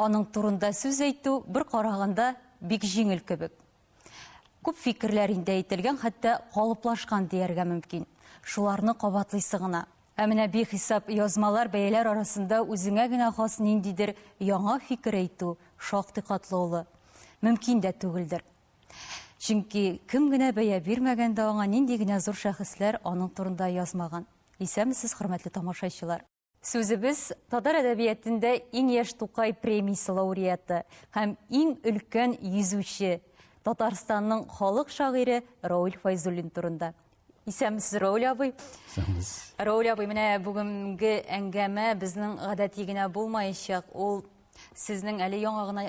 Аның турында сүз әйтү бер караганда бик җиңел кебек. Күп фикерләр инде әйтелгән, хәтта калыплашкан дияргә мөмкин. Шуларны кабатлыйсы гына. Ә менә бихисап язмалар, бәяләр арасында үзеңә генә хас ниндидер яңа фикер әйтү шактый катлы олы. Мөмкин дә түгелдер. Чөнки кем генә бәя бирмәгән дә аңа, нинди генә зур шәхесләр аның турында язмаган. Исәнмесез, хөрмәтле тамашачылар! Сүзебез татар әдәбиятендә иң яшь Тукай премиясе лауреаты һәм иң өлкән йөзүче Татарстанның халык шагыйре Рауль Файзуллин турында. Исәнмесез, Рауль абый. Исәнмез. Рауль абый, менә бүгенге әңгәмә безнең гадәти генә булмаячак. Ул Сезнең әле яңа гына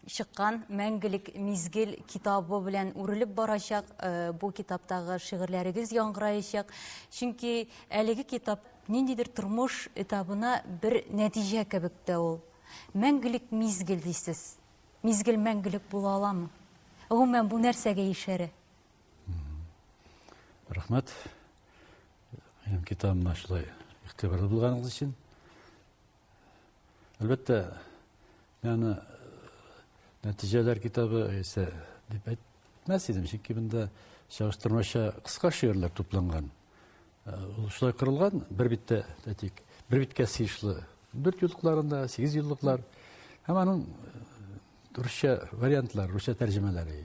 чыккан Мәңгелек мизгел китабы белән үрелеп барачак, э, бу китаптагы шигырьләрегез яңгыраячак. Чөнки әлеге китап ниндидер тормыш этабына бер нәтиҗә кебек тә ул. Мәңгелек мизгел дисез. Мизгел мәңгелек була аламы? Гомумән бу нәрсәгә ишәрә? Рәхмәт. Минем китабыма шулай игътибарлы булганыгыз өчен. Әлбәттә, мин аны нәтиҗәләр китабы исә дип әйтмәс идем, чөнки монда чагыштырмача кыска шигырьләр тупланган. Э, ул шулай кырылган, бер биттә, әйтик, бер биткә сыешлы дүрт юллыкларында, сигез юллыклар һәм аның э, русча вариантлары, русча тәрҗемәләре.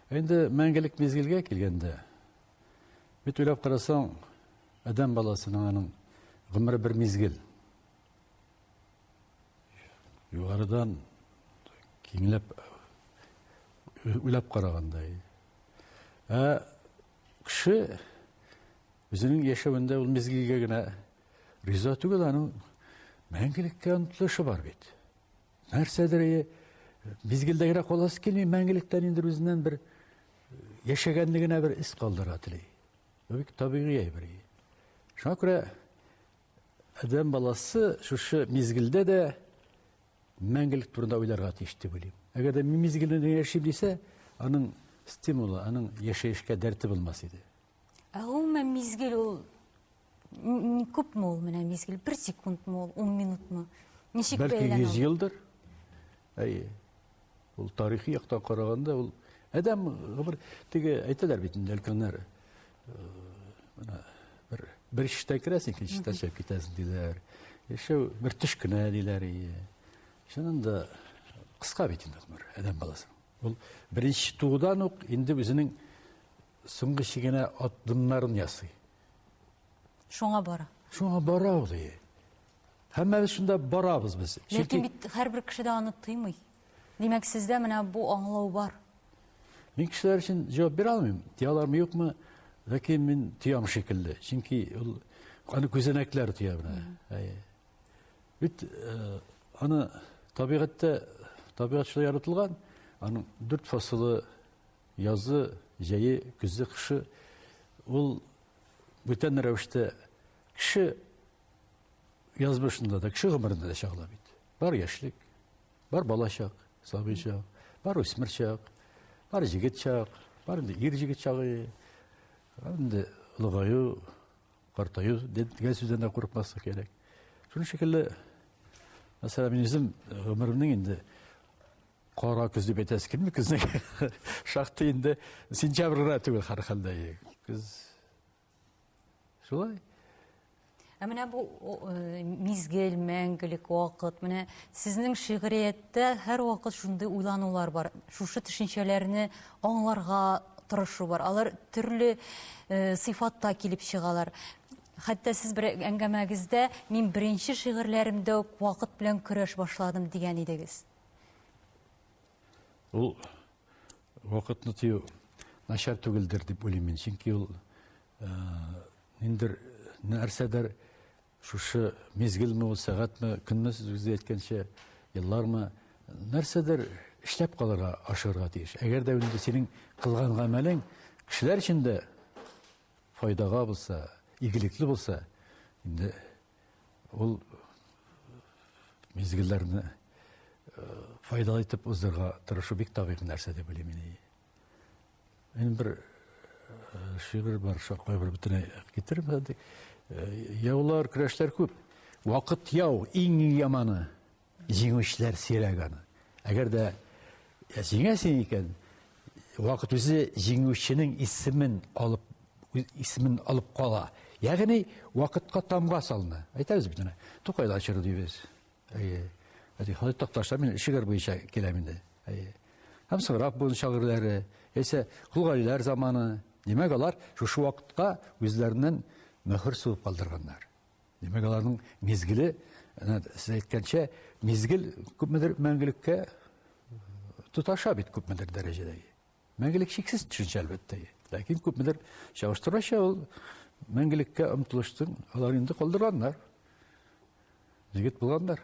Инде мәңгелек мизгелгә килгәндә, Бит уйлап карасаң, адәм баласының аның гомере бер мизгел. Югарыдан киңләп уйлап караганда. Ә кеше үзенең яшәвендә ул мизгелгә генә риза түгел, аның мәңгелеккә омтылышы бар бит. Нәрсәдер мизгелдәгрәк каласы килми, мәңгелектән инде үзеннән бер яшәгәнне генә бер эз калдыра тели. Бу бик табигый әйбер. Шуңа күрә адәм баласы шушы мизгелдә дә мәңгелек турында уйларга тиеш дип уйлыйм. Әгәр дә мизгелдә генә яшим дисә, аның стимулы, аның яшәешкә дәрте булмас иде. Ә гомумән мизгел ул Күп мул менә мизгел, бер секунд мул, ун минут мул. Ничек бәйләнә? Бәлки йөз елдыр. Әйе. Ул тарихи яктан караганда ул әдәм гомер теге әйтәләр бит инде өлкәннәр. Менә бер бер чиштә керәсең, икенче чиштә чыгып китәсең диләр. Яшәү бер төш кенә диләр. Чыннан да кыска бит инде гомер әдәм баласы. Ул беренче туудан ук инде үзенең соңгы чигенә адымнарын ясый. Шуңа бара. Шуңа бара ул. Һәммәбез шунда барабыз без. Ләкин бит һәрбер кеше дә аны тыймый. Димәк, сездә менә бу аңлау бар. Мин кешеләр өчен җавап бирә алмыйм. Тиялармы, юкмы? Ләкин мин тиям шикелле. Чөнки ул аны күзәнәкләр тия менә. Бит э, аны табигатьтә табигать шулай яратылган. Аның дүрт фасылы Язы, җәе, көзе, кышы ул бүтән рәвештә кеше язмышында да, кеше гомерендә дә чагыла бит. Бар яшьлек, бар бала чак, сабый чак, бар үсмер чак, бар җегет чак, бар инде ир җегет чагы, инде олыгаю, картаю дигән сүздән дә курыкмаска кирәк. Шуның шикелле, мәсәлән, мин үзем гомеремнең инде Кара көз дип әйтәсе килми көзнең. Шактый инде сентябрь гына түгел һәрхәлдә. Көз шулай. Ә менә бу э, мизгел, мәңгелек вакыт, менә сезнең шигърияттә һәр вакыт шундый уйланулар бар. Шушы төшенчәләрне аңларга тырышу бар. Алар төрле э, сыйфатта килеп чыгалар. Хәтта сез бер әңгәмәгездә мин беренче шигырьләремдә үк вакыт белән көрәш башладым дигән идегез. Ул вакытны тыю начар түгелдер дип уйлыйм мин. Чөнки ул э, ниндер нәрсәдер шушы мезгелме ул сәгатьме, көнме сез үзе әйткәнчә, еллармы нәрсәдер эшләп калырга, ашырга тиеш. Әгәр дә инде синең кылган гамәлең кешеләр өчен дә файдага булса, игелекле булса, инде Ул мизгелләрне файдалы итеп уздырырга тырышу бик табигый нәрсә дип уйлыйм мин. Мин бер шигырь бар, шулай бер бөтенләй китереп Яулар, көрәшләр күп. Вакыт яу, иң яманы. Җиңүчеләр сирәк аны. Әгәр дә җиңәсең икән, вакыт үзе җиңүченең исемен алып исемен алып кала. Ягъни вакытка тамга салына. Әйтәбез бит аны. Тукайда чоры дибез. Әйе. Әти хәзер такташа мин шигырь буенча киләм инде. Әйе. Һәм Сыграк буын шагыйрьләре, яисә Кулгалиләр заманы. Димәк, алар шушы вакытка үзләреннән мөһер сугып калдырганнар. Димәк, аларның мизгеле, сез әйткәнчә, мизгел күпмедер мәңгелеккә тоташа бит күпмедер дәрәҗәдә. Мәңгелек шиксез төшенчә, әлбәттә. Ләкин күпмедер чагыштырача ул мәңгелеккә омтылыштың алар инде калдырганнар. Егет булганнар.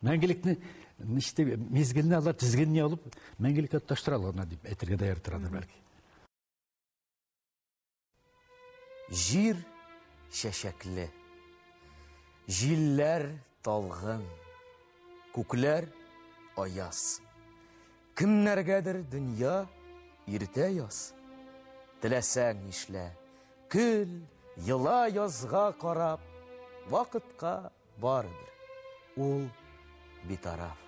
Мәңгелекне ничте мизгелне алар тизгенне алып мәңгелеккә таштыра алганнар дип әйтергә дә яртырадыр бәлки. Җир чәчәкле, җилләр талгын, күкләр аяз. Кемнәргәдер дөнья иртә яз. Теләсәң нишлә, көл, ела язга карап, вакытка барыбер. Ул битараф.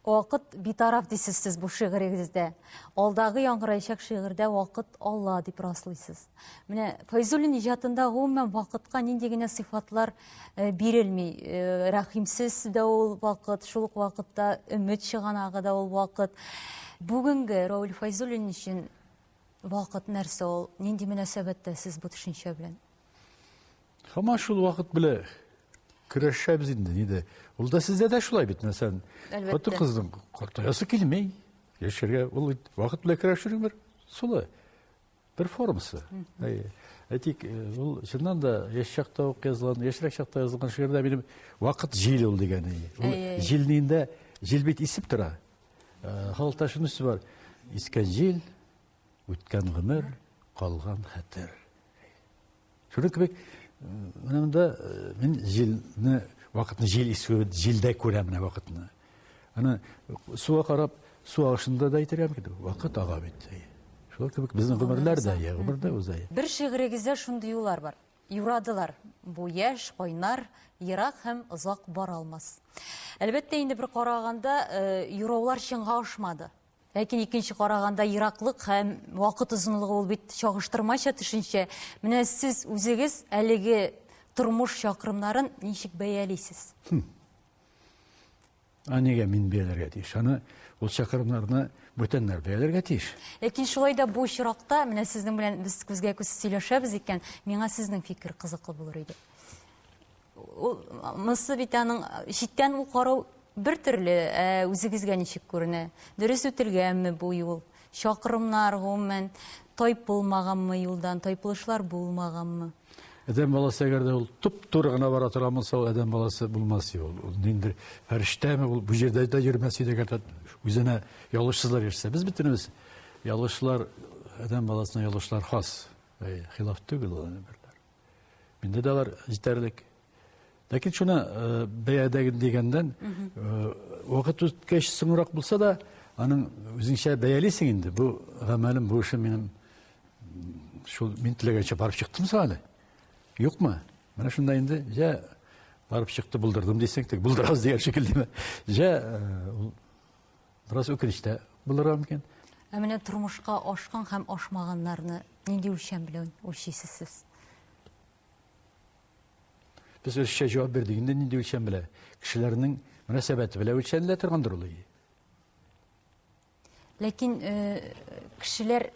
Вакыт битараф дисез сез бу шигырегездә. Алдагы яңгыраячак шигырьдә вакыт Алла дип раслыйсыз. Менә Файзуллин иҗатында гомумән вакытка нинди генә сыйфатлар э, бирелми. Э, рәхимсез дә ул вакыт, шул ук вакытта өмет чыганагы да ул вакыт. Бүгенге Рауль Файзуллин өчен вакыт нәрсә ул? Нинди мөнәсәбәттә сез бу төшенчә белән? Һаман шул вакыт белә көрәшәбез инде, ниде. Ул да сездә дә шулай бит, мәсәлән. Хатын кызның картаясы килмей. Яшәргә ул вакыт белән көрәшер бер сулы. Бер формасы. Әйтик, ул чыннан да яшь чакта ук язылган, яшьрәк чакта язылган шигырьдә минем вакыт җил ул дигән. Ул җилнинде, җил бит исеп тора. Халыкта шунысы бар. Искән җил, Үткән гомер, калган хәтер. Шуның кебек, менә монда мин җилне, вакытны җил исүен, җилдә күрәм менә вакытны. Аны суга карап, су агышында да әйтергә мөмкин. Вакыт ага бит. Шул кебек безнең гомерләр дә, я, гомер дә уза. Бер шигырегездә шундый юллар бар. Юрадылар. Бу яшь, кайнар, ерак һәм озак бара алмас. Әлбәттә, инде бер караганда, юраулар чынга ашмады. Ләкин икенче караганда ераклык һәм вакыт озынлыгы ул бит чагыштырмача төшенчә. Менә сез үзегез әлеге тормыш чакрымнарын ничек бәялисез? Хм. А нигә мин бәяләргә тиеш? Аны ул чакрымнарны бүтәннәр бәяләргә тиеш. Ләкин шулай да бу очракта, менә сезнең белән без күзгә-күз сөйләшәбез икән, миңа сезнең фикер кызыклы булыр иде. Ул монысы бит аның читтән ул карау бер төрле, ә үзегезгә ничек күренә? Дөрес үтелгәнме бу юл? Чакрымнар, гомумән, тайпылмаганмы юлдан, тайпылышлар булмаганмы? Адәм баласы әгәр дә ул туп-туры гына бара торган булса, ул адәм баласы булмас иде ул. Ул нинди фәрештәме ул бу җирдә дә йөрмәс иде әгәр дә үзенә ялгышсызлар йөрсә. Без бөтенебез ялгышлар, адәм баласына ялгышлар хас. Хилаф түгел ул, әнә берләр. Миндә дә алар җитәрлек. Ләкин шуны э, бәядәге дигәндән, э, вакыт үткәч соңрак булса да, аның үзеңчә бәялисең инде. Бу гамәлем, бу эшем минем шул мин теләгәнчә барып чыктым әле. Юкмы? Менә шунда инде җә барып чыкты, булдырдым дисең, тик булдырабыз дигән шикеллеме? Җә э, Бераз үкенеч тә булырга мөмкин. Ә менә тормышка ашкан һәм ашмаганнарны нинди үлчәм белән үлчисез сез? Без русча җавап бирдек. Инде нинди үлчәм белән? Кешеләрнең мөнәсәбәте белән үлчәнелә торгандыр ул. Ләкин э, кешеләр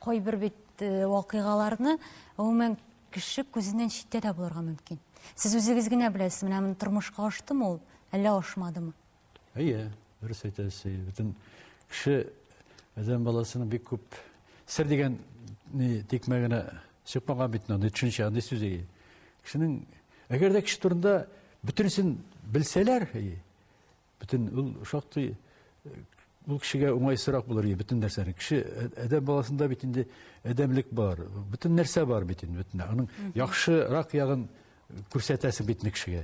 кайбер бит э, вакыйгаларны гомумән кеше күзеннән читтә дә булырга мөмкин. Сез үзегез генә беләсез, менә тормышка ашты ул, әллә ашмадымы? Әйе, дөрес әйтәсез. Әйе. Бөтен кеше адәм баласының бик күп сер дигән ни тикмә генә чыкмаган бит анда төшенчә, андый сүз әйе. Кешенең әгәр дә кеше турында бөтенесен белсәләр, әйе. Бөтен ул шактый ул кешегә уңайсырак булыр иде бөтен нәрсәне. Кеше ә- адәм баласында бит инде адәмлек бар, бөтен нәрсә бар бит инде бөтен. Аның яхшырак ягын күрсәтәсең бит инде кешегә.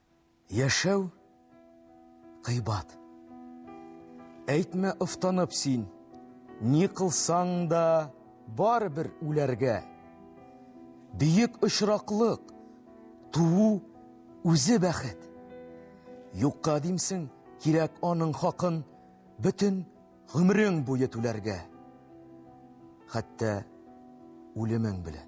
Яшәү кыйбат. Әйтмә офтанып син, ни кылсаң да барыбер үләргә. Бөек очраклык, туу үзе бәхет. Юкка димсең, кирәк аның хакын бөтен гомерең буе түләргә. Хәтта үлемең белән.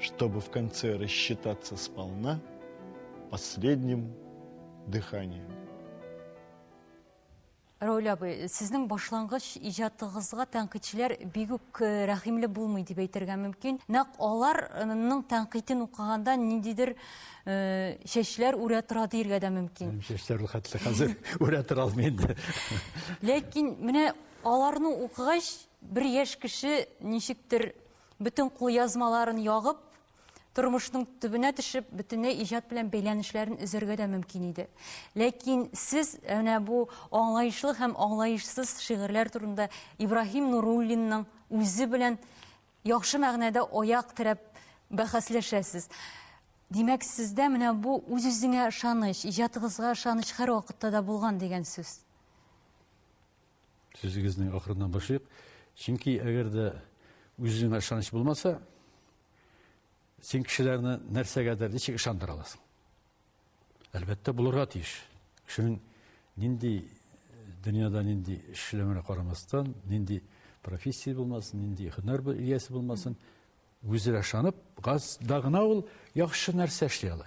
Чтобы в конце рассчитаться сполна последним дыханием. Рәүлә абый, сезнең башлангыч иҗатыгызга тәнкыйтьчеләр бик үк э, рәхимле булмый дип әйтергә мөмкин. Нәкъ аларның тәнкыйтен укыганда ниндидер э, чәчләр үрә тора диергә дә мөмкин. Минем чәчләр хәтле хәзер үрә тора алмый инде. Ләкин менә аларны укыгач, бер яшь кеше ничектер Бөтен кулъязмаларын ягып, тормышның төбенә төшеп, бөтенләй иҗат белән бәйләнешләрен өзәргә дә мөмкин иде. Ләкин сез әнә бу аңлаешлы һәм аңлаешсыз шигырьләр турында Ибраһим Нуруллинның үзе белән яхшы мәгънәдә аяк терәп бәхәсләшәсез. Димәк, сездә менә бу үз-үзеңә ышаныч, иҗатыгызга ышаныч һәрвакытта да булган дигән сүз. Сүзегезне ахырыннан башлыйк. Чөнки әгәр дә үзеңә ышаныч булмаса, син кешеләрне нәрсәгәдер ничек ышандыра аласың? Әлбәттә, булырга тиеш. Кешенең нинди дөньяда нинди эшләмәне карамастан, нинди профессия булмасын, нинди һөнәр иясе булмасын, үзенә ышанып, газда гына ул яхшы нәрсә эшли ала.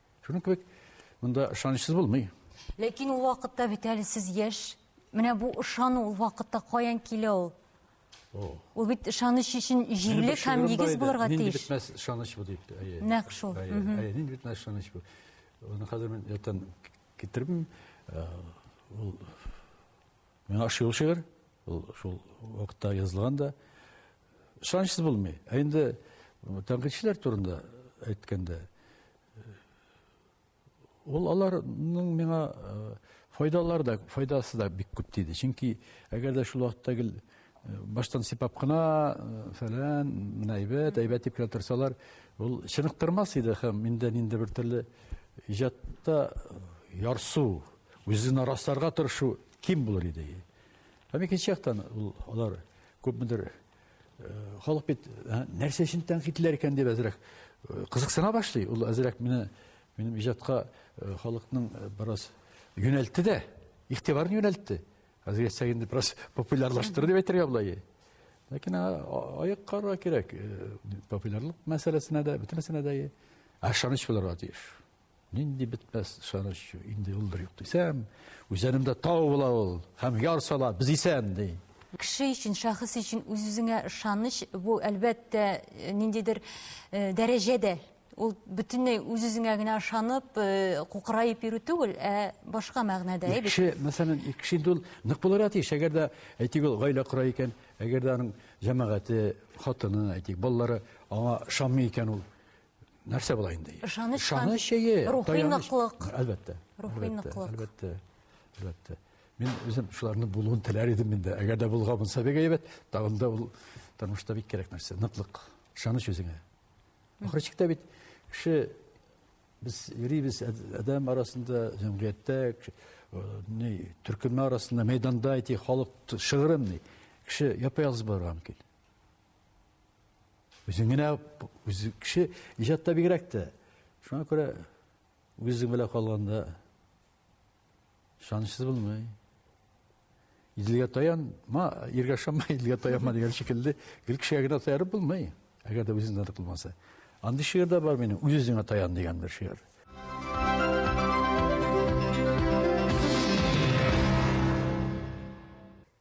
Шуның кебек монда ышанычсыз булмый. Ләкин ул вакытта бит әле сез яшь. Менә бу ышану ул вакытта каян килә ул? Ул бит ышаныч өчен җирлек һәм нигез булырга тиеш. Нинди бетмәс ышаныч бу дип. Нәкъ шул. Нинди бетмәс ышаныч бу. Аны хәзер мин ятан китермим. Э, ул миңа ошый ул шигырь. Ул шул вакытта язылган да. Ышанычсыз булмый. Ә инде тәнкыйтьчеләр турында әйткәндә, ул аларның миңа файдалары да, файдасы да бик күп диде. Чөнки әгәр дә шул вакытта гел баштан сипап кына фәлән, менә әйбәт, әйбәт дип кенә торсалар, ул чыныктырмас иде һәм инде нинди бер төрле иҗатта ярсу, үзен расларга тырышу ким булыр иде. Һәм икенче яктан ул алар күпмедер халык бит нәрсә өчен тәнкыйтьләр икән дип әзрәк кызыксына башлый. Ул әзрәк мине минем иҗатка халыкның бераз юнәлтте дә, игътибарын юнәлтте. Хәзер сәгин дип бераз популярлаштырды дип әйтергә була. Ләкин аяк карга кирәк. Популярлык мәсьәләсенә дә, бөтенесенә дә ышаныч булырга тиеш. Нинди бетмәс ышаныч, инде ул бер юк дисәм, үзәнемдә тау була ул, һәм яр сала, без исән, ди. Кеше өчен, шәхес өчен үз-үзеңә ышаныч, бу әлбәттә ниндидер дәрәҗә дә. Ул бөтенләй үз-үзеңә генә ышанып, кукыраеп йөрү түгел, ә башка мәгънәдә. Кеше, мәсәлән, кеше инде ул нык булырга тиеш, әгәр дә әйтик, ул гаилә кора икән, әгәр дә аның җәмәгате, хатыны, әйтик, балалары аңа ышанмый икән ул, нәрсә була инде? Ышаныч, ышаныч чәе, рухи ныклык. Әлбәттә. Рухи ныклык. Әлбәттә. Әлбәттә. Мин үзем шуларны булуын теләр идем инде. Әгәр дә булга булса бик әйбәт. Тагын да ул тормышта бик кирәк нәрсә, ныклык, ышаныч үзеңә. Ахыры чиктә бит кеше без йөрибез адәм арасында, җәмгыятьтә, ни, төркеме арасында, мәйданда әйти, халык шыгырым ни. Кеше япа-ялгыз булырга мөмкин. Үзең генә үз кеше иҗатта бигрәк тә. Шуңа күрә үзең белән калганда шанышсыз булмый. Иделгә таянма, иргә шама, иделгә таянма дигән шикелле, гел кешегә генә таярып булмый, әгәр дә үзеңдә дә булмаса. Андый шигырь дә бар минем, үз-үзеңә таян дигән бер шигырь.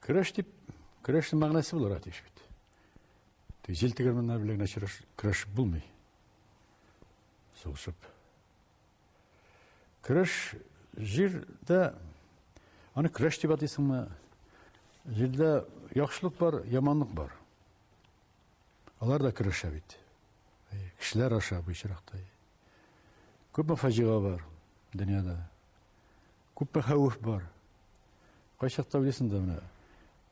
Көрәш дип, көрәшнең мәгънәсе булырга тиеш бит. Тик җил тегермәннәр белән генә чырыш, көрәш булмый. Сугышып. Көрәш җирдә аны көрәш дип атыйсыңмы? Җирдә яхшылык бар, яманлык бар. Алар да көрәшә бит. Кешеләр аша бу очракта. Күпме фаҗига бар дөньяда. Күпме хәвеф бар. Кайчакта уйлыйсың да менә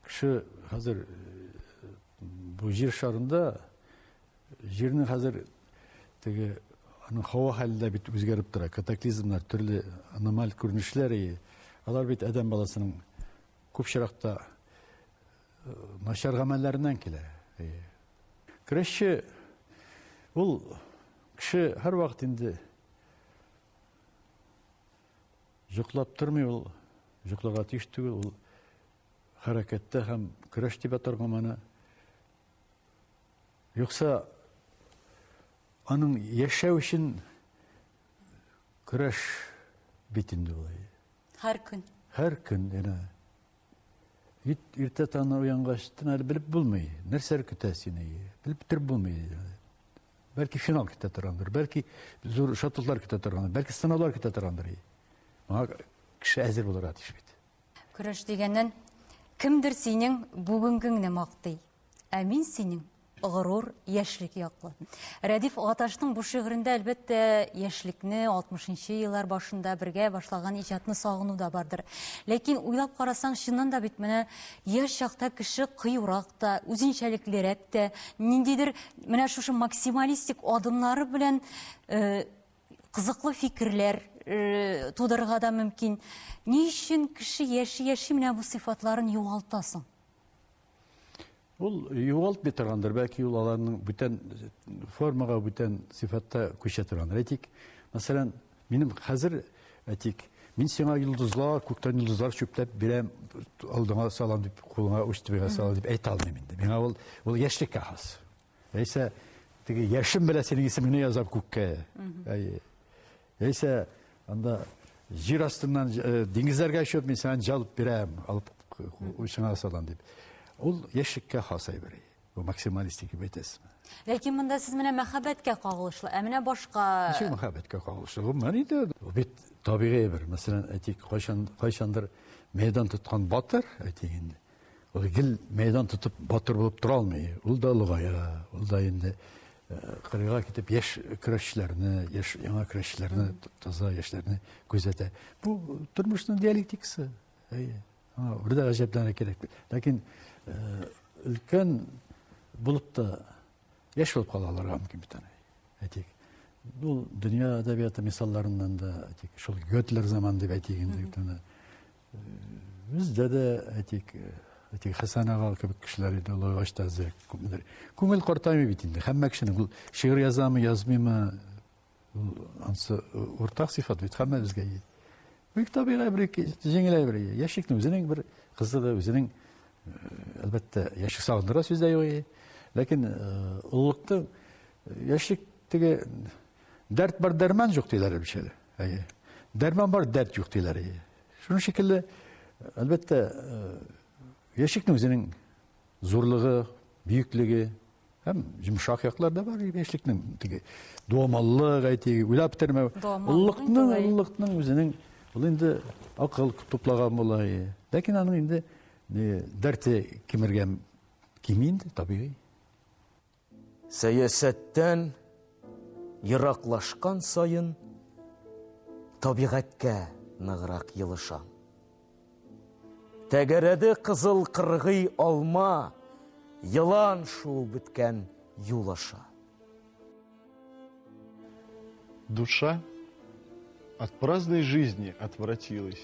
кеше хәзер бу җир шарында җирнең хәзер теге аның һава хәле дә бит үзгәреп тора. Катаклизмнар, төрле аномаль күренешләр и алар бит адәм баласының күп чиракта начар гамәлләреннән килә. Крәшче ул кеше һәрвакыт инде Җоклап тормый ул, җокларга тиеш түгел, ул хәрәкәттә һәм көрәш дип атарга моны. Юкса аның яшәү өчен көрәш бит инде ул. Һәр көн. Һәр көн, әнә. Бит иртә таңнан уянгач, әле белеп булмый. Нәрсәр көтә сине? Белеп төр булмый. Бәлки финал көтә торгандыр, бәлки зур шатлыклар көтә торгандыр, бәлки сынаулар көтә торгандыр. Моңа кеше әзер булырга тиеш бит. Көрәш дигәннән, кемдер синең бүгенгеңне мактый, ә мин синең горур, яшьлек яклы. Рәдиф Гаташның бу шигырендә, әлбәттә, яшьлекне, 60 нчы еллар башында бергә башлаган иҗатны сагыну да бардыр. Ләкин уйлап карасаң, чыннан да бит менә яшь чакта кеше кыюрак та, үзенчәлеклерәк тә, ниндидер менә шушы максималистик адымнары белән э, кызыклы фикерләр э, тудырырга да мөмкин. Ни өчен кеше яши-яши менә бу сыйфатларын югалта соң? Ул югалтмый торгандыр, бәлки ул аларның бүтән формага, бүтән сыйфатта күчә торгандыр. Әйтик, мәсәлән, минем хәзер, әйтик, мин сиңа йолдызлар, күктән йолдызлар чүпләп бирәм, алдыңа салам дип, кулыңа уч төбеңә салам дип әйтә алмыйм инде. Миңа ул ул яшьлеккә хас. Яисә теге яшем белән синең исемеңне язам күккә. Әйе. Яисә анда җир астыннан э, диңгезләргә очып мин сиңа җалып бирәм, алып учыңа салам дип. Ул яшьлеккә хас әйбер. Бу максималистик дип әйтәсезме? Ләкин монда сез менә мәхәббәткә кагылышлы, ә менә башка Ничек мәхәббәткә кагылышлы? Бу менә инде бит табигый бер. Мәсәлән, әйтик, кайчан кайчандыр мәйдан тоткан батыр, әйтик инде. Ул гел мәйдан тотып, батыр булып тора алмый. Ул да олыгая, ул да инде кырыйга китеп яшь көрәшчеләрне, яшь яңа көрәшчеләрне, таза яшьләрне күзәтә. Бу тормышның диалектикасы. Әйе. Аңа бер дә гаҗәпләнә кирәк. Ләкин өлкән булып та яшь булып кала аларга мөмкин бит аны. Әйтик, ул дөнья әдәбияты мисалларыннан да, әйтик, шул Гётлер заман дип әйтик инде, Бездә дә әйтик, әйтик Хәсән ага кебек кешеләр иде, олайгач та әзрәк күпмедер. Күңел картаймый бит инде. Һәммә кешенең ул шигырь язамы, язмыймы, ул ансы уртак сыйфат бит һәммәбезгә. Бик табигый бер җиңеләй бер. Яшикнең үзенең бер кызыгы, үзенең әлбәттә яшик сагындыра сүз дә юк. Ләкин олылыкта яшик теге дәрт бар, дәрман юк диләр бишәле. Әйе. Дәрман бар, дәрт юк диләр. Әйе. Шуның шикелле, әлбәттә, яшикнең үзенең зурлыгы, бөеклеге һәм йомшак яклар да бар яшьлекнең. Теге дуамаллык, әйтик, уйлап бетермәү. Уллыкның, уллыкның үзенең ул инде акыл туплаган була. Ләкин аның инде дәрте кимергән кими инде, табигый. Сәясәттән ераклашкан саен табигатькә ныграк елышам. Тәгәрәде кызыл кыргый алма, елан шуып беткән юл аша. Душа от праздной жизни отвратилась.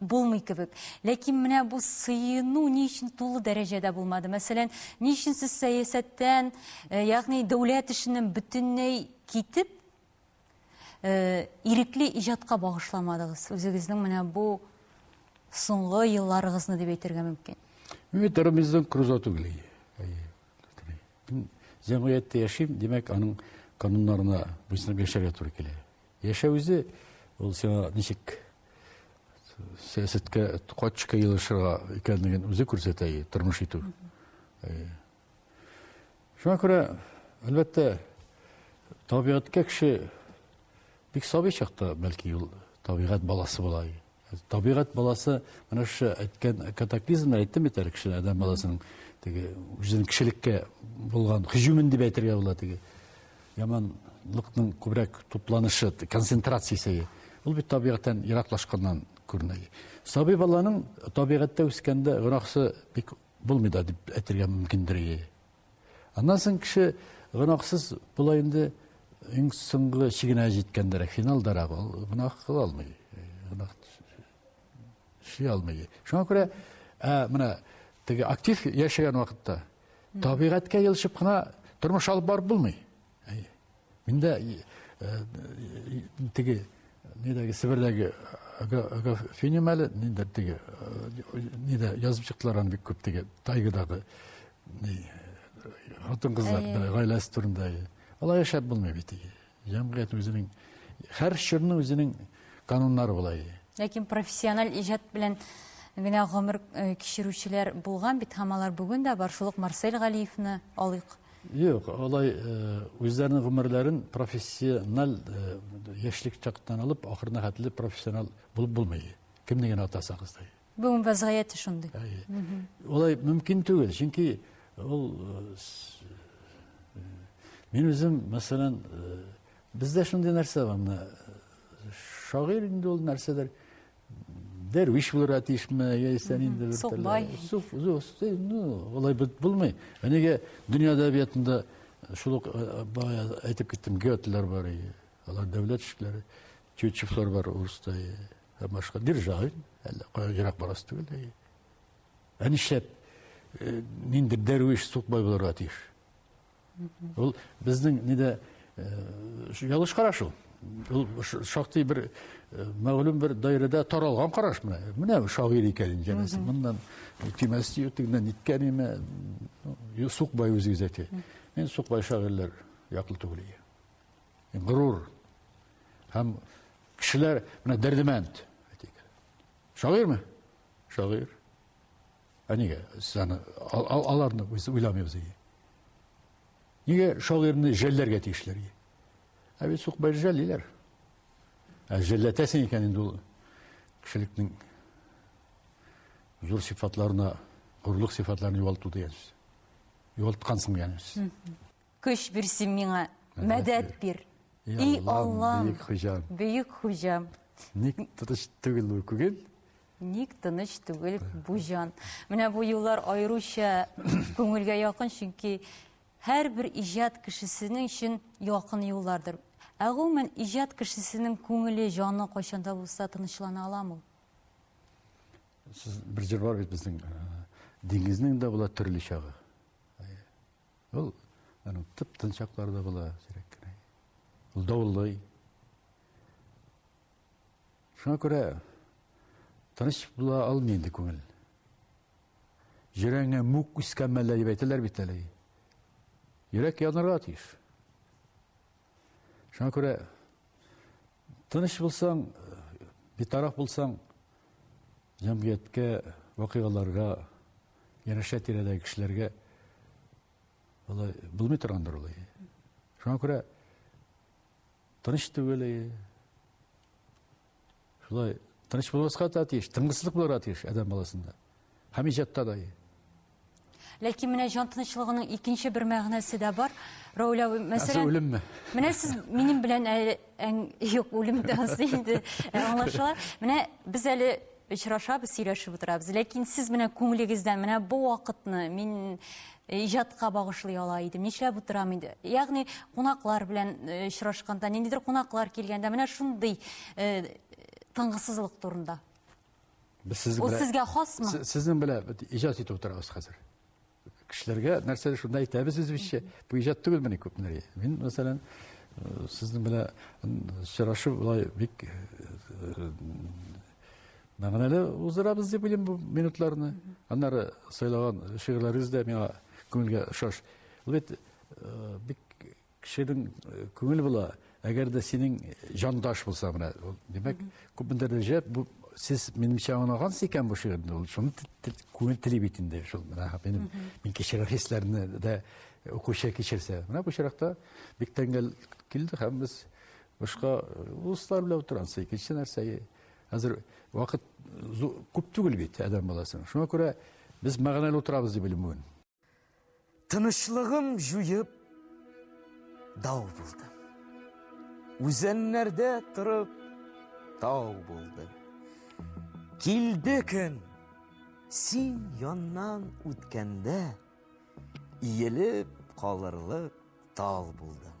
Булмый кебек. Ләкин менә бу сыену ни өчен тулы дәрәҗәдә булмады? Мәсәлән, ни өчен сез сәясәттән, э, ягъни дәүләт эшеннән бөтенләй китеп, э, ирекле иҗатка багышламадыгыз? Үзегезнең менә бу соңгы елларыгызны дип әйтергә мөмкин. Мин Робинзон Крузо түгел. Җәмгыятьтә яшим, димәк, аның кануннарына буйсынып яшәргә туры килә. Яшәү үзе ул сиңа ничек сәясәткә качка елышырга икәнлеген үзе күрсәтә и тормыш итү. Шуңа күрә, әлбәттә, табигатькә кеше бик сабый чакта, бәлки, ул табигать баласы була. Табигать баласы менә шушы әйткән катаклизмны әйттем бит әле кешеләр адәм баласының теге үзенең кешелеккә булган һөҗүмен дип әйтергә була теге яманлыкның күбрәк тупланышы концентрациясе ул бит табигатьтән ераклашканнан күренә сабый баланың табигатьтә үскәндә гөнаһысы бик булмый да дип әйтергә мөмкиндер Аннан соң кеше гөнаһсыз була инде иң соңгы чигенә җиткәндәрәк, финалдарак ул гөнаһ кыла алмый. Гөнаһ эшли алмый. Шуңа күрә менә теге актив яшәгән вакытта табигатькә елышып кына тормыш алып барып булмый. Әйе. Мин дә теге нидәге Себердәге Финем әле нидә теге нидә язып чыктылар аны бик күп теге тайгадагы хатын кызлар гаиләсе турында. Алай яшәп булмый бит. Җәмгыять үзенең һәр чорның үзенең кануннары була. Ләкин профессиональ иҗат белән генә гомер кичерүчеләр булган бит һәм алар бүген дә бар. Шул ук Марсель Галиевны алыйк. Юк, алай үзләренең гомерләрен профессиональ яшьлек чактан алып, ахырына хәтле профессионал булып булмый. Кемне генә атасагыз да. Бүген вазгыяте шундый. Алай мөмкин түгел, чөнки ул мин үзем, мәсәлән, бездә шундый нәрсә бар, менә шагыйрь инде ул нәрсәдер. Дәрвиш булырга тиешме, яисә нинди бер Сукбай. Сук, ну, алай бит булмый. Әнегә дөнья әдәбиятында шул ук әйтеп киттем, Гётлер бар иде. Алар дәүләт эшчеләре, Тютчевлар бар урыста һәм башка. Державин, әллә кая ерак барасы түгел. Ә нишләп нинди дәрвиш Сукбай булырга тиеш? Ул безнең нидә ялгыш караш ул. Ул шактый бер мәгълүм бер даирәдә таралган караш менә. Менә шагыйрь икән инде янәсе. Моннан кимәс дию тегеннән ниткән име. Сукбай үзегез әйтә. Мин Сукбай шагыйрьләр яклы түгел. Горур һәм кешеләр менә дәрдемәнд. Шагыйрьме? Шагыйрь. Ә нигә сез аны аларны уйламыйбыз ие? Нигә шагыйрьне жәлләргә тиешләр ие? Ә бит сукбай жәллиләр. Ә жәлләтәсең икән инде ул кешелекнең зур сыйфатларына, горурлык сыйфатларын югалту дигән сүз. Югалткансың дигән сүз. Көч бир син миңа, мәдәт бир. И Аллам, бөек хуҗам. Бөек хуҗам. Ник тыныч түгел бу күңел? Ник тыныч түгел бу җан? Менә бу юллар аеруча күңелгә якын, чөнки һәрбер иҗат кешесенең өчен якын юллардыр. Ә гомумән иҗат кешесенең күңеле, җаны кайчанда булса тынычлана аламы? Сез бер җыр бар бит безнең. Диңгезнең дә була төрле чагы. Ул аны тып-тын чакларда була, сирәк кенә. Ул давыллый. Шуңа күрә тыныч була алмый инде күңел. Йөрәгеңә мүк үскән мәллә дип әйтәләр бит әле. Йөрәк янырга тиеш. Шуңа күрә тыныч булсаң, битараф булсаң, Җәмгыятькә, вакыйгаларга, янәшә тирәдәге кешеләргә алай булмый торгандыр ул. Шуңа күрә тыныч түгел. Шулай тыныч булмаска да тиеш, тынгысызлык булырга тиеш адәм баласында. Һәм иҗатта да. Ләкин менә җан тынычлыгының икенче бер мәгънәсе дә бар. Рауля, мәсәлән... үлемме? Менә сез минем белән әле... Юк, үлем дәнсе инде аңлашыла. Менә без әле очрашабыз, сөйләшеп утырабыз. Ләкин сез менә күңелегездән менә бу вакытны мин иҗатка багышлый ала идем, нишләп утырам инде. Ягъни кунаклар белән очрашканда, ниндидер кунаклар килгәндә, менә шундый тынгысызлык турында. Без сезнең Ул белән сезгә хасмы? Се- Сезнең белән бит иҗат итеп утырабыз хәзер. Кешеләргә нәрсәдер шунда әйтәбез үзебезчә. Бу иҗат түгелмени күпмеләр. Мин, мәсәлән, э, сезнең белән м, сорашу болай бик э, мәгънәле уздырабыз дип уйлыйм бу минутларны. Аннары сайлаган шигырьләрегез дә миңа күңелгә ошаш. Ул бит э, бик Кешенең күңел була, әгәр дә синең җандаш булса менә, димәк, күпмедер дәрәҗә бу сез минемчә аңлагансыз икән бу шигырьне, ул шуны күңел тели бит инде, шул менә минем мин кичергән хисләрне дә укучы кичерсә. Менә бу очракта бик тәңгәл килде һәм без башка дуслар белән утырабыз. Икенче нәрсә, хәзер вакыт күп түгел бит адәм баласының. Шуңа күрә без мәгънәле утырабыз дип уйлыйм бүген. Тынычлыгым җуеп, дау булдым. Үзәннәрдә торып, тау булдым. Килде көн, син яннан үткәндә, иелеп калырлык тал булдым.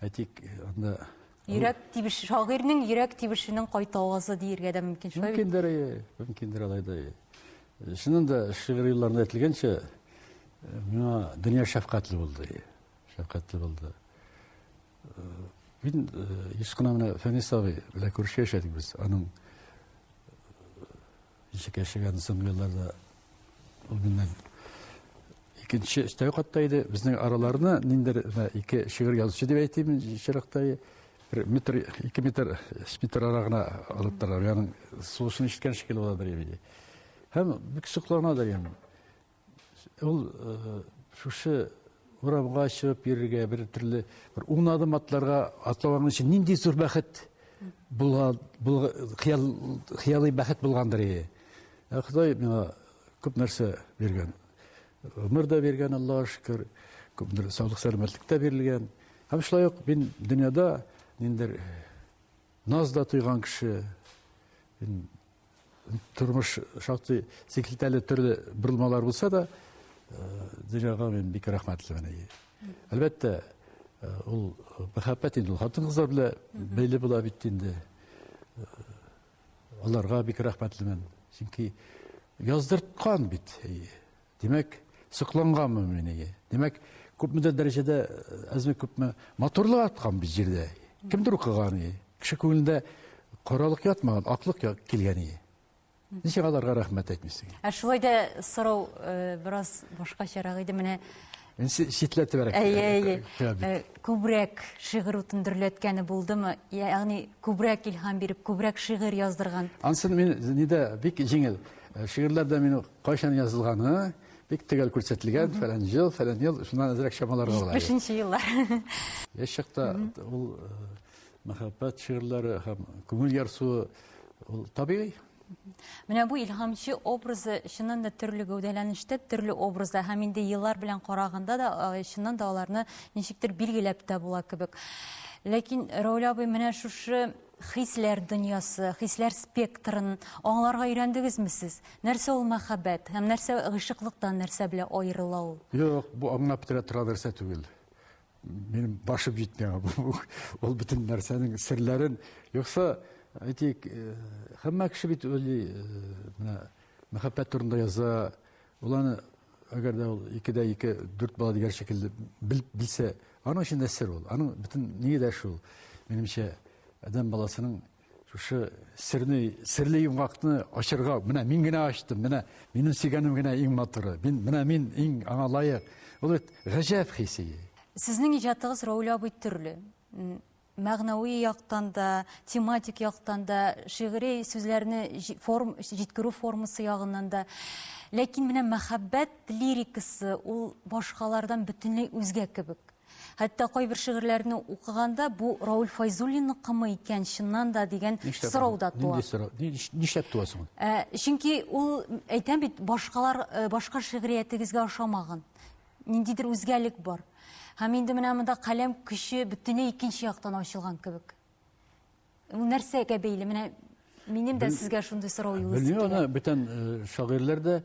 Ә тик анда Йөрәк тибеш, шагыйрьнең йөрәк тибешенең кайта авазы диергә дә мөмкин. Шулай бит? Мөмкиндер, э, мөмкиндер алай да. э. Чыннан да шигырь юлларында әйтелгәнчә, э, миңа дөнья шәфкатьле булды. э, Шәфкатьле булды. Э, Мин э, еш кына менә Фәнис абый белән күрше яшәдек без. Аның Ничек яшәгән земляларда ул миннән икенче өстәге катта иде. Безнең араларына ниндер ике шигырь язучы дип әйтим, чиракта бер метр, ике метр, өч метр ара гына алып торалар. Ягъни сулышын ишеткән шикелле була бер иде. Һәм бик соклана да ям. Ул шушы урамга чыгып йөрергә, бер төрле бер ун адым атларга атлаган өчен нинди зур бәхет булган, хыял, хыялый бәхет булгандыр иде. Ә Ходай миңа күп нәрсә биргән. Гомер дә биргән, Аллаһ шөкер, күп нәрсә саулык сәламәтлек тә бирелгән. Һәм шулай ук мин дөньяда ниндер наз да тойган кеше, Тормыш шактый сикелтәле төрле борылмалар булса да, дөньяга мин бик рәхмәтлемен. Әлбәттә, ул мәхәббәт инде ул хатын-кызлар белән бәйле була бит инде. Аларга бик рәхмәтлемен. Чөнки яздырткан бит. Димәк, сокланганмы мин әйе. Димәк, күпмедер дәрәҗәдә әзме күпме матурлык аткан бит җирдә. Кемдер укыган ие. Кеше күңелендә каралык ятмаган, аклык килгән ие. Ничек аларга рәхмәт әйтмисең? Ә шулай да сорау э, бераз башкачарак иде. Менә читләтебрәк. Әйе, әйе. Э, э, күбрәк шигырь утын дөрләткәне булдымы? Ягъни күбрәк илһам биреп, күбрәк шигырь яздырган. Ансын мин нидә бик җиңел. Шигырьләрдә мин Кайчан язылганы бик төгәл күрсәтелгән, фәлән ел, фәлән ел, шуннан әзрәк чамаларга була. 75-нче еллар. Яшь чакта ул мәхәббәт шигырьләре һәм күңел ярсуы ул табигый. Менә бу илһамчы образы чыннан да төрле гәүдәләнештә, төрле образда һәм инде еллар белән караганда да э, чыннан да аларны ничектер билгеләп тә була кебек. Ләкин Рауля абый менә шушы Хисләр дөньясы, хисләр спектрын аңларга өйрәндегезме сез? Нәрсә ул мәхәббәт һәм нәрсә гыйшыклыктан нәрсә белән аерыла ул? Юк, бу аңлап бетерә торган нәрсә түгел. Минем башым җитми аңа. Бу ул бөтен нәрсәнең серләрен, юкса, әйтик, һәммә кеше бит уйлый, менә мәхәббәт турында яза, Ул аны, әгәр дә ул икедә ике, дүрт бала дигән шикелле бел, белсә, аның өчен дә сер ул. Аның бөтен нигә дә шул, минемчә, адәм баласының шушы серне, серле йомгакны ачырга, менә мин генә ачтым, менә минем сөйгәнем генә иң матуры, мин, менә мин иң аңа лаек. Ул бит гаҗәп хисе. Сезнең иҗатыгыз Рауль абый төрле. мәгънәви яктан да, тематик яктан да, шигъри сүзләрне форм, җиткерү формасы ягыннан да. Ләкин менә мәхәббәт лирикасы ул башкалардан бөтенләй үзгә кебек. Хәтта кайбер шигырьләрне укыганда бу Рауль Файзуллинныкымы икән чыннан да дигән сорау да туа. Нишләп туа соң? Э, чөнки ул әйтәм бит, башкалар э, башка шигъриятегезгә ошамаган. ниндидер үзгәлек бар. Һәм инде менә монда каләм көче бөтенләй икенче яктан ачылган кебек. Ул нәрсәгә бәйле? Менә минем дә сезгә шундый сорау юлысы килә. Белмим, аны бүтән э, шагыйрьләр дә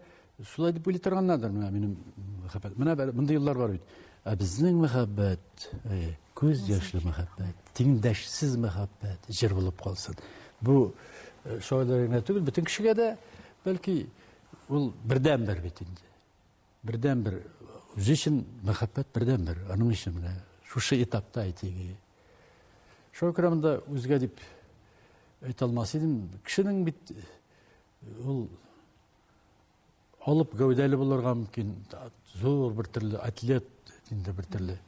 шулай дип уйлый торганнардыр менә минем мәхәббәт. Менә мондый еллар бар бит. Ә безнең мәхәббәт, э, күз яшьле мәхәббәт, тиңдәшсез мәхәббәт җыр булып калсын. Бу э, шагыйрьләргә түгел, бөтен кешегә дә бәлки ул бердәнбер бит инде. Бердәнбер үзе өчен мәхәббәт бердәнбер, аның өчен менә шушы этапта әйтеге. Шуңа күрә монда үзгә дип әйтә алмас идем. Кешенең бит ул алып гәүдәле булырга мөмкин, зур бер төрле атлет инде бер төрле.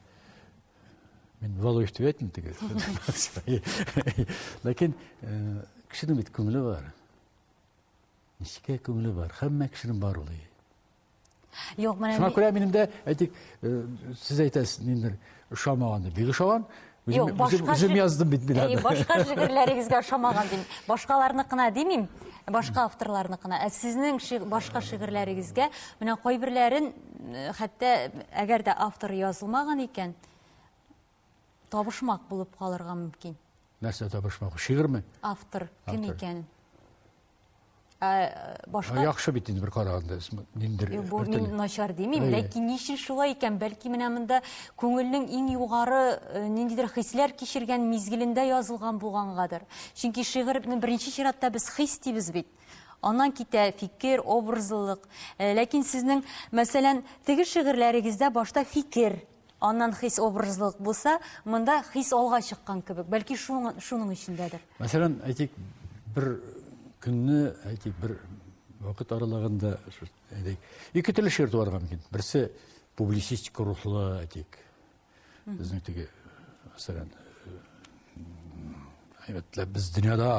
Мин Валуев дип әйтмим теге. Ләкин кешенең бит күңеле бар. Нечкә күңеле бар, һәммә кешенең бар ул. Юк, менә Шуңа күрә минем дә, әйтик, э, сез әйтәсез, ниндер ошамаган дип. Бик ошаган. Юк, башка үзем яздым бит мин аны. Башка шигырьләрегезгә ошамаган дим. Башкаларныкына димим, башка авторларныкына. Ә сезнең башка шигырьләрегезгә менә кайберләрен э, хәтта әгәр дә автор язылмаган икән, Табышмак булып калырга мөмкин. Нәрсә табышмак? Шигырьме? Автор кем икән? Ә, башка Яхшы бит инде бер караганда, ниндер. Бу мин начар димим, ләкин ни өчен шулай икән? Бәлки менә монда күңелнең иң югары э, ниндидер хисләр кичергән мизгелендә язылган булгангадыр. Чөнки шигырьне беренче чиратта без хис дибез бит. Аннан китә фикер, образлылык. Э, ләкин сезнең, мәсәлән, теге шигырьләрегездә башта фикер Аннан хис образлылык булса, монда хис алга чыккан кебек. Бәлки шуның эчендәдер. Мәсәлән, әйтик, бер көнне, әйтик, бер вакыт аралыгында, әйтик, ике төрле шигырь туарга мөмкин. Берсе публицистик рухлы, әйтик, безнең теге, мәсәлән, әйбәтләп без дөньяда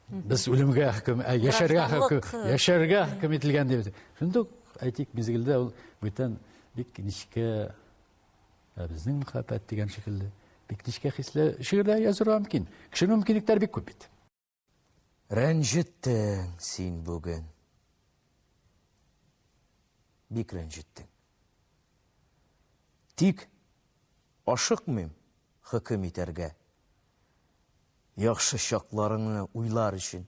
без үлемгә хөкем, ә яшәргә хөкем, яшәргә хөкем ителгән дип. Шундук, әйтик, мизгелдә ул бүтән Бик нечкә, ә безнең мәхәббәт дигән шикелле, бик нечкә хисле шигырьләр язырга мөмкин. Кешенең мөмкинлекләре бик күп бит. Рәнҗеттең син бүген. Бик рәнҗеттең. Тик ашыкмыйм хөкем итәргә. Яхшы чакларыңны уйлар өчен,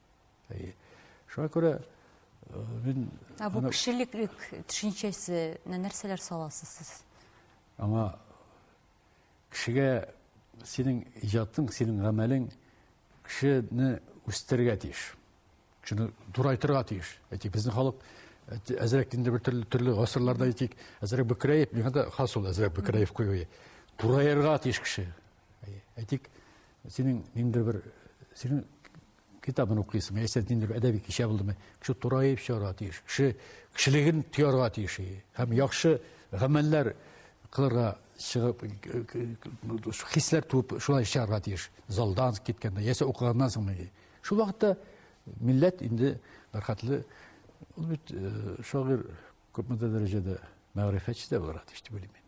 Әйе. Шуңа күрә э, мин Ә бу кешелек төшенчәсенә нәрсәләр саласыз сез? Аңа кешегә синең иҗатың, синең гамәлең кешене үстерергә тиеш. Кешене дурайтырга тиеш. Әйтик, безнең халык әзрәк инде бер төрле, төрле гасырларда әйтик, әзрәк бөкрәеп, миңа да хас ул әзрәк бөкрәеп куюы. Дураерга тиеш кеше. Әйтик, синең ниндидер бер синең китабын укыйсың, яисә ниндидер бер әдәби кичә булдымы, кеше тураеп чыгарга тиеш, кеше кешелеген тоярга тиеш һәм яхшы гамәлләр кылырга чыгып хисләр туып шулай чыгарга тиеш залдан киткәндә яисә укыганнан соң шул вакытта милләт инде бәрхәтле ул бит шагыйрь күпмедер дәрәҗәдә мәгърифәтче дә булырга тиеш дип уйлыйм мин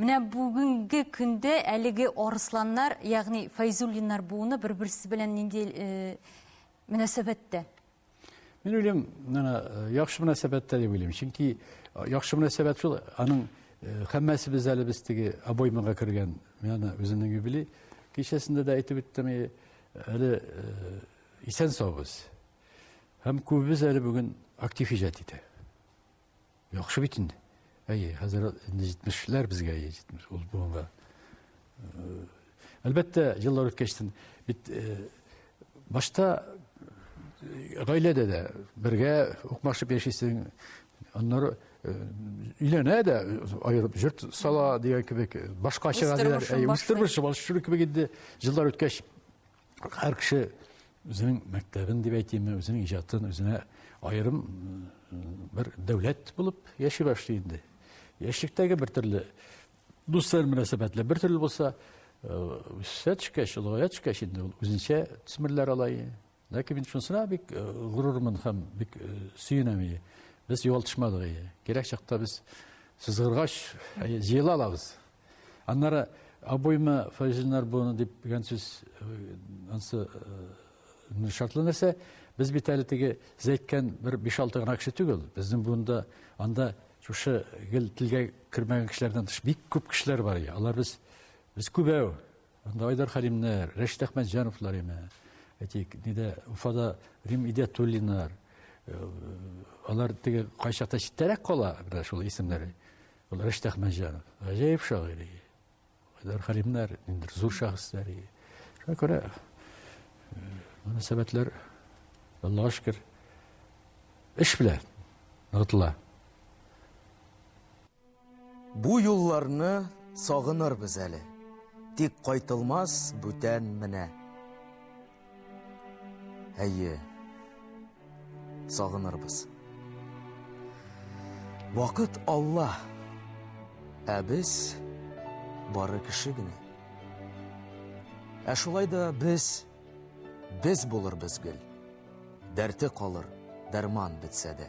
Менә бүгенге көндә әлеге арысланнар, ягъни Файзуллиннар буыны бер-берсе белән нинди э, мөнәсәбәттә? Мин уйлыйм, менә э, яхшы мөнәсәбәттә дип уйлыйм. Чөнки э, яхшы мөнәсәбәт шул, аның э, хәммәсебез әле без теге обоймага кергән, менә үземнең юбилей кичәсендә дә әйтеп үттем, әле исән саубыз. Һәм күбебез әле бүген актив иҗат итә. Яхшы бит инде. Әйе, хәзер инде 70-ләр безгә, әйе, 70. Ул буынга. Э, әлбәттә, еллар үткәчтен бит э, башта э, гаиләдә дә бергә укмашып яшисең. Аннары өйләнә дә аерып җорт сала дигән кебек башка чыга диләр. Үз тормышы башка кебек инде. Еллар үткәч һәр кеше үзенең мәктәбен дип әйтимме, үзенең иҗатын үзенә аерым бер дәүләт булып яши башлый инде. Яшьлектәге бер төрле дуслар мөнәсәбәтләре бер төрле булса, үсә төшкәч, олыгая төшкәч инде ул үзенчә төсмерләр ала. Ләкин мин шунысына бик горурлымын һәм бик сөенәм. Без югалтышмадык. Кирәк чакта без сызгыргач җыела алабыз. Аннары обойма фәҗиннәр буны дип дигән сүз ансы шартлы нәрсә. Без бит әле теге зәйткән бер 5-6 гына кеше түгел. Безнең буында анда шушы гел телгә кермәгән кешеләрдән тыш бик күп кешеләр бар. Алар без без күбәү. Анда Айдар Халимнәр, Рәшит Әхмәтҗановлар име. Әйтик, нидә Уфада Рим Идәтуллинар. Алар теге кайчакта читтәрәк кала, шул исемнәре. Рәшит Әхмәтҗанов, гаҗәеп шагыйрь. Кайдар Хәлимнәр, ниндидер зур шәхесләр. Шуңа күрә мөнәсәбәтләр, Аллага шөкер, эш белән ныгытыла. Бу юлларны сагынырбыз әле, тик кайтылмас бүтән менә. Әйе. Сагынырбыз. Вакыт Алла. Ә без бары кеше генә. Ә шулай да без без булырбыз гел. Дәрте калыр, дәрман бетсә дә.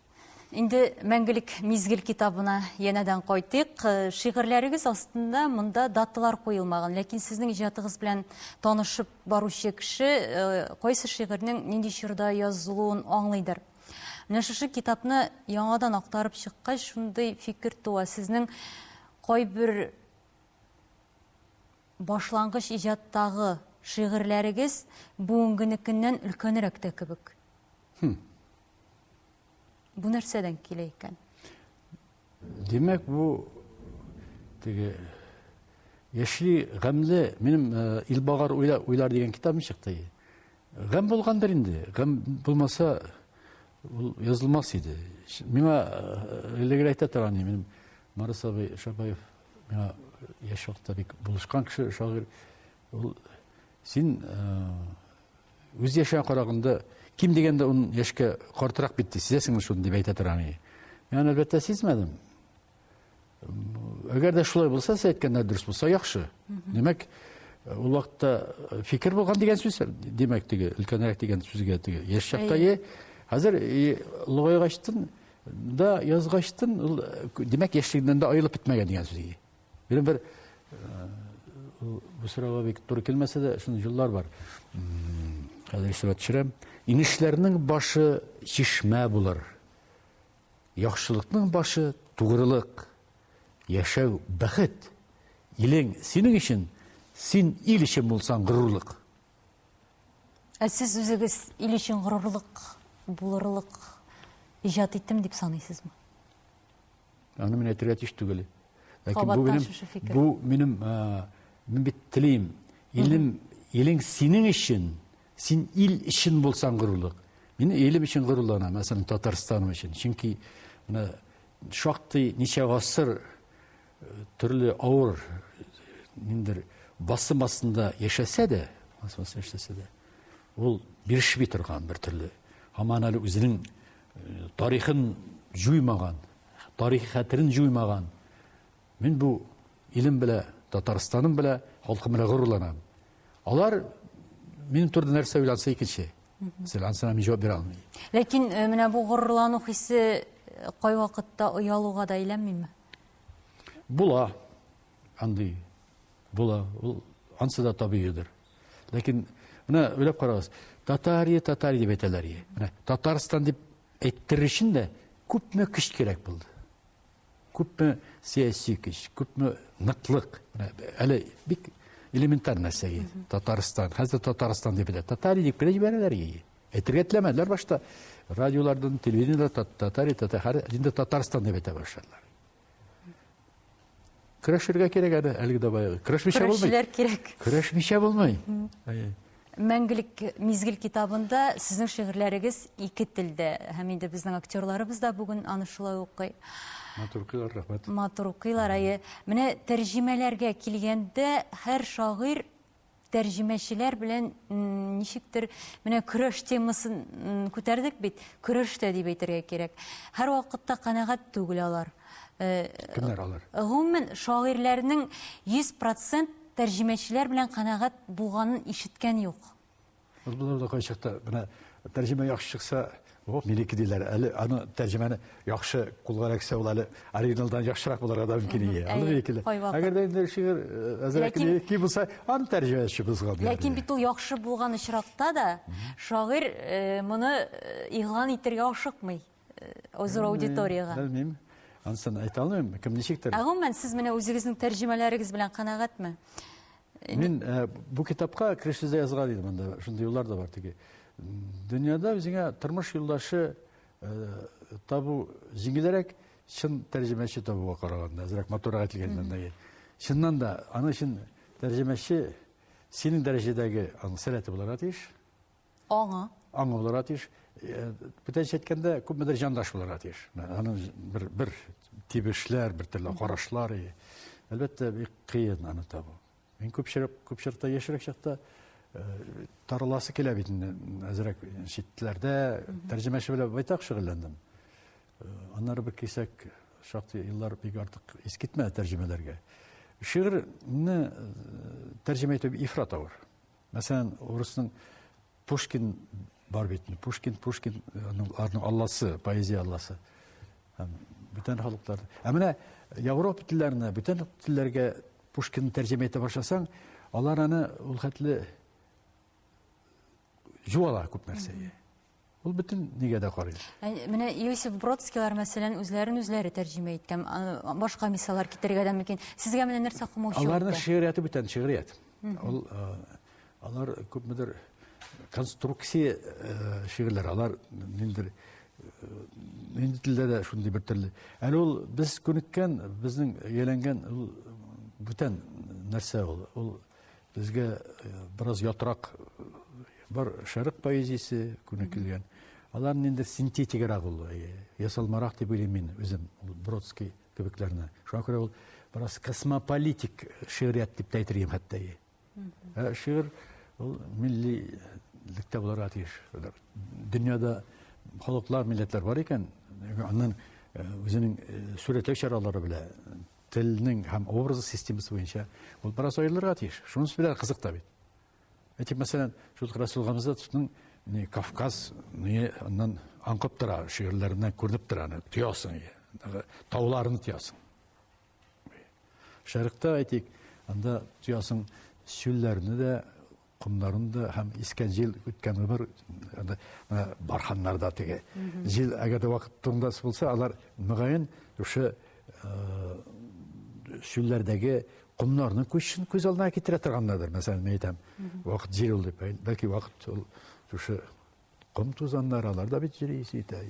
Инде мәңгелек мизгел китабына янәдән кайтыйк. Э, шигырьләрегез астында монда даталар куелмаган, ләкин сезнең иҗатыгыз белән танышып баручы кеше э, кайсы шигырьнең нинди чорда язылуын аңлыйдыр. Менә шушы китапны яңадан актарып чыккач, шундый фикер туа. Сезнең кайбер башлангыч иҗаттагы шигырьләрегез бүгенгенекеннән өлкәнрәк тә кебек. Бу нәрсәдән килә икән? Димәк, бу теге яшьли гамле минем э, Илбагар уйлар дигән китабым чыкты. Гам булгандыр инде. Гам булмаса ул язылмас иде. Миңа э, элегер әйтә торган иде минем Марис абый Шабаев миңа яшь вакытта бик булышкан кеше шагыйрь Ул син үз яшәгән караганда ким дигәндә ун яшькә картырак бит ди, сизәсеңме шуны дип әйтә тора мени. Мин аны әлбәттә сизмәдем. Әгәр дә шулай булса, сез әйткәндә дөрес булса, яхшы. Димәк, ул вакытта э, фикер булган дигән сүз, димәк, теге өлкәнрәк дигән сүзгә теге яшь чакта е. Хәзер логайгачтын да язгачтын, э, димәк, яшьлегеннән дә аерылып бетмәгән дигән сүз. Бер бер бу сорауга бик туры килмәсә дә, шундый җыллар бар. Хәзер исәбә төшерәм. Инешләрнең башы чишмә булыр. Яхшылыкның башы тугрылык. Яшәү бәхет. Илең синең өчен, син ил өчен булсаң горурлык. Ә сез үзегез ил өчен горурлык, булырлык иҗат иттем дип саныйсызмы? Аны мин әйтергә тиеш түгел. Ләкин бу минем бу минем мин бит телим. Илем, илең синең өчен, син ил өчен булсаң горурлык. Мин илем өчен горурланам, мәсәлән, Татарстаным өчен. Чөнки менә шактый ничә гасыр төрле авыр ниндер басым астында яшәсә дә, яшәсә дә, ул бирешми торган бер төрле. Һаман әле үзенең тарихын җуймаган, тарих хәтерен җуймаган. Мин бу илем белә, Татарстаным белә, халкым белә горурланам. Алар минем турында нәрсә уйланса икенче. Сез ансына мин җавап бирә алмыйм. Ләкин э, менә бу горурлану хисе э, кайвакытта оялуга да әйләнмиме? Була. Андый була. Ул ансы да табигыйдыр. Ләкин менә уйлап карагыз, Татария, Татария дип әйтәләр. Менә Татарстан дип әйттерер өчен дә күпме көч кирәк булды. Күпме сәяси көч, күпме ныклык. Әле бик элементар нәрсә Татарстан. Хәзер Татарстан дип әйтә. Татария дип кенә җибәрәләр. Әйтергә теләмәделәр башта. Радиолардан, телевидениедә Татария, Татария, инде Татарстан дип әйтә башладылар. Көрәшергә кирәк әле, әлеге дә баягы. Көрәшмичә булмый. Көрәшчеләр кирәк. Көрәшмичә булмый. Мәңгелек мизгел китабында сезнең шигырьләрегез ике телдә. Һәм инде безнең актерларыбыз да бүген аны шулай укый. Матур укыйлар, рәхмәт. Матур укыйлар, әйе. Менә тәрҗемәләргә килгәндә, һәр шагыйрь тәрҗемәчеләр белән ничектер менә көрәш темасын күтәрдек бит көрәш тә дип әйтергә кирәк һәр вакытта канәгать түгел алар э, кемнәр алар гомумән шагыйрьләрнең 100 процент тәрҗемәчеләр белән канәгать булганын ишеткән юк Болар да кайчакта менә тәрҗемә яхшы чыкса, оп, минеке диләр. Әле аны тәрҗемәне яхшы кулга эләксә, ул әле оригиналдан яхшырак булырга да мөмкин иде. Аны минекеле. Әгәр дә инде шигырь әзрәк минеке булса, аны тәрҗемәчебез гафу. Ләкин бит ул яхшы булган очракта да шагыйрь моны игълан итәргә ашыкмый. зур аудиториягә? Белмим. Ансын әйтә алмыйм, кем ничектер. Ә гомумән сез менә үзегезнең тәрҗемәләрегез белән канәгатьме? Мин э, бу китапка керешүдә язган идем анда, шундый юллар да бар теге. Дөньяда үзеңә тормыш юлдашы э, табу җиңелрәк, чын тәрҗемәче табуга караганда, әзрәк матурак әйтелгәннән дә. Чыннан да, аның өчен тәрҗемәче синең дәрәҗәдәге аның сәләте булырга тиеш. Аңы. Аңы булырга тиеш. Э, Бүтәнчә әйткәндә, күпмедер җандаш булырга тиеш. Аның бер, бер тибешләр, бер төрле карашлар. Әлбәттә, бик кыен аны табу. Мин күпчелек, күпчелектә яшерек чакта э, тарыласы килә бит инде. Әзрәк читләрдә тәрҗемәче белән байтак шөгыльләндем. Э, аннары бер кисәк шактый еллар бик артык искитмә тәрҗемәләргә. Шигырьне тәрҗемә итү ифрат авыр. Мәсәлән, урысның Пушкин бар бит. Пушкин, Пушкин, аның алласы, поэзия алласы. Бүтән халыклар. Ә менә Европа телләренә, бүтән телләргә Пушкин тәрҗемә итә башласаң, алар аны ул хәтле җуала күп нәрсәгә. Ул бөтен нигә дә карый. Ә, менә Иосиф Бродскийлар, мәсәлән, үзләрен үзләре тәрҗемә иткән. Башка мисаллар китерергә дә мөмкин. Сезгә менә нәрсә кумаучы? Аларның шигърияте бүтән шигърият. Ул алар күпмедер конструкция шигырьләр, алар ниндидер нинди телдә дә шундый бер төрле. Әле ул без күнеккән, безнең ияләнгән ул бүтән нәрсә ул. Ул Безгә э, бераз ятрак э, бар шәрык поэзиясе күнекелгән. Алар инде синтетигарак ул, э, ясалмарак дип уйлыйм мин үзем, Бродский кебекләрне. Шуңа күрә ул бераз космополитик шигърият дип тә әйтергә хәтта. Ә шигырь ул миллилектә булырга тиеш. Дөньяда халыклар, милләтләр бар икән, аннан үзенең сурәтләү чаралары белән Телнең һәм образ системасы буенча ул бераз аерылырга тиеш. Шунысы белән кызык та бит. Әйтик, мәсәлән, шул Расул Гамзатовның не Кавказ, не аннан аңкып тора, шигырьләреннән күренеп тора, аны тоясың, тауларны тоясың. Шәрыкта әйтик, анда тоясың, сүлләрне дә комнарында һәм искән җил үткән гомер анда менә барханнарда теге җил әгәр дә вакыт турында булса алар мөгаен шушы чүлләрдәге комнарның күчен күз алдына китерә торганнардыр мәсәлән мин әйтәм вакыт җил ул дип бәлки вакыт ул шушы ком тузаннар алар да бит җил исе итә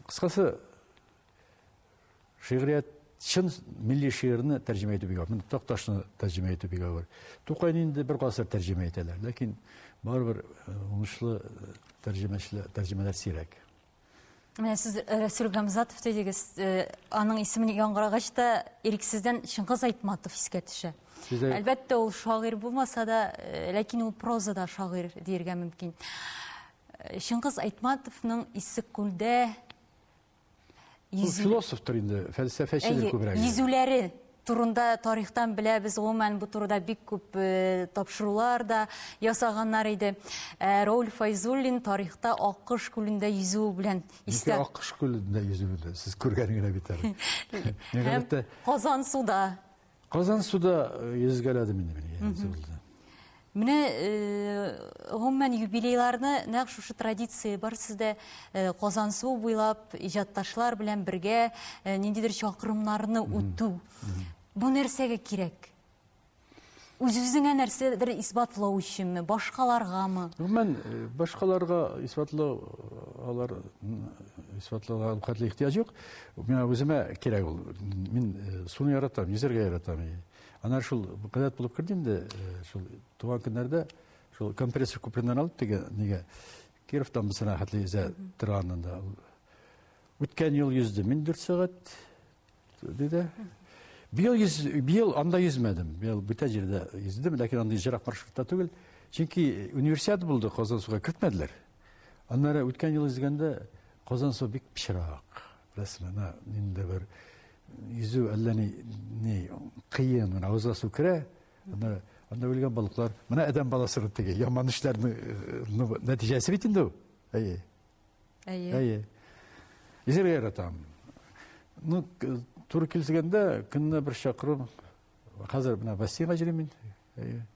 кыскасы Шигърият чын милли шигырьне тәрҗемә итү бик авыр. Такташны тәрҗемә итү бик авыр. Тукайны инде бер гасыр тәрҗемә итәләр, ләкин барыбер э, уңышлы э, тәрҗемәчеләр, тәрҗемәләр сирәк. Менә сез э, Рәсүл Гамзатов дидегез, аның исемен яңгырагач та ирексездән Чыңгыз Айтматов искә төшә. Сездә... Әлбәттә, ул шагыйрь булмаса да, ләкин ул прозада шагыйрь диергә мөмкин. Чыңгыз Айтматовның Иссеккүлдә Йөз... Философтыр инде, фәлсәфәчедер күбрәк. Йөзүләре турында тарихтан беләбез, гомумән бу турыда бик күп э, тапшырулар да ясаганнар иде. Э, Рауль Файзуллин тарихта Аккыш күлендә йөзүе белән истә. Ничә Аккыш күлендә йөзүе сез күргән генә бит әле. Һәм Казан суда Казан суда йөзгәләдем инде мин. Менә гомумән юбилейларны нәкъ шушы традиция бар сездә Казан су буйлап иҗатташлар белән бергә ниндидер чакрымнарны үтү. Бу нәрсәгә кирәк? Үзебезеңә нәрсәдер исбатлау өченме, башкаларгамы? Гомумән башкаларга исбатлау алар исбатлауга хәтле ихтыяҗ юк. Миңа үземә кирәк ул. Мин суны яратам, йөзәргә яратам. Анар шул кадәт булып керде инде, шул туган көннәрдә шул компрессор күпленнән алып теге нигә Кировтан без рәхәтле йөзә торганында. Үткән ел йөзде мин 4 сәгать диде. Быел йөз, быел анда йөзмәдем. Быел бүтән җирдә йөздем, ләкин андый җирак маршрутта түгел. Чөнки универсиада булды, Казан суга кертмәделәр. Аннары үткән ел йөзгәндә Казан су бик пычрак. Рәсмә, на, инде бер йөзү әллә ни, ни кыен, менә авызга су керә, анда, анда үлгән балыклар. Менә адәм баласы бит теге, яман эшләрне ну, нәтиҗәсе бит инде ул. Әйе. Әйе. Әйе. Изер яратам. Ну, туры килсәгәндә, көнне бер чакырым, хәзер менә бассейнга җөрим мин. Әйе.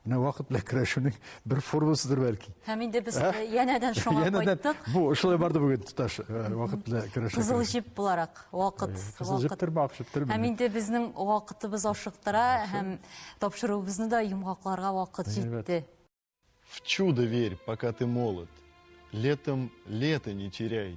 Менә вакыт белән көрәшүнең бер формасыдыр бәлки. Һәм инде без э, янәдән шуңа кайттык. Бу шулай барды бүген тоташ э, вакыт белән көрәшә. Кызыл җеп буларак вакыт. Э, кызыл җеп төрмә акчып төрмә. Һәм инде безнең вакытыбыз ашыктыра һәм тапшыруыбызны да йомгакларга вакыт җитте. В чудо верь, пока ты молод. Летом лето не теряй.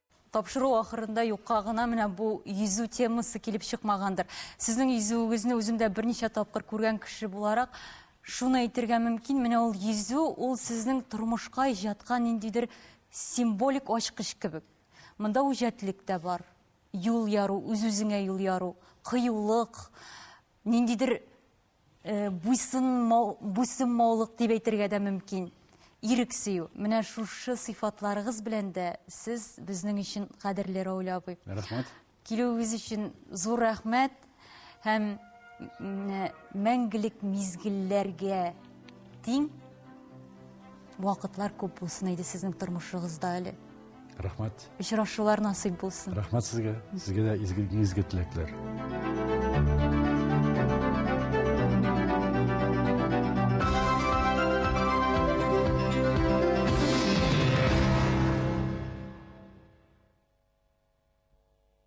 Тапшыру ахырында юкка гына менә бу йөзү темасы килеп чыкмагандыр. Сезнең йөзүегезне үзем дә берничә тапкыр күргән кеше буларак, шуны әйтергә мөмкин, менә ул йөзү, ул сезнең тормышка иҗатка ниндидер символик ачкыч кебек. Монда үҗәтлек тә бар, юл яру, үз-үзеңә юл яру, кыюлык, ниндидер Буйсынмау, буйсынмаулык дип әйтергә дә мөмкин. Ирек сөю. Менә шушы сыйфатларыгыз белән дә сез безнең өчен кадерле, Равил абый. Рәхмәт. Килүегез өчен зур рәхмәт һәм мәңгелек мизгелләргә тиң вакытлар күп булсын иде сезнең тормышыгызда әле рәхмәт очрашулар насыйп булсын рәхмәт сезгә сезгә дә изге изге теләкләр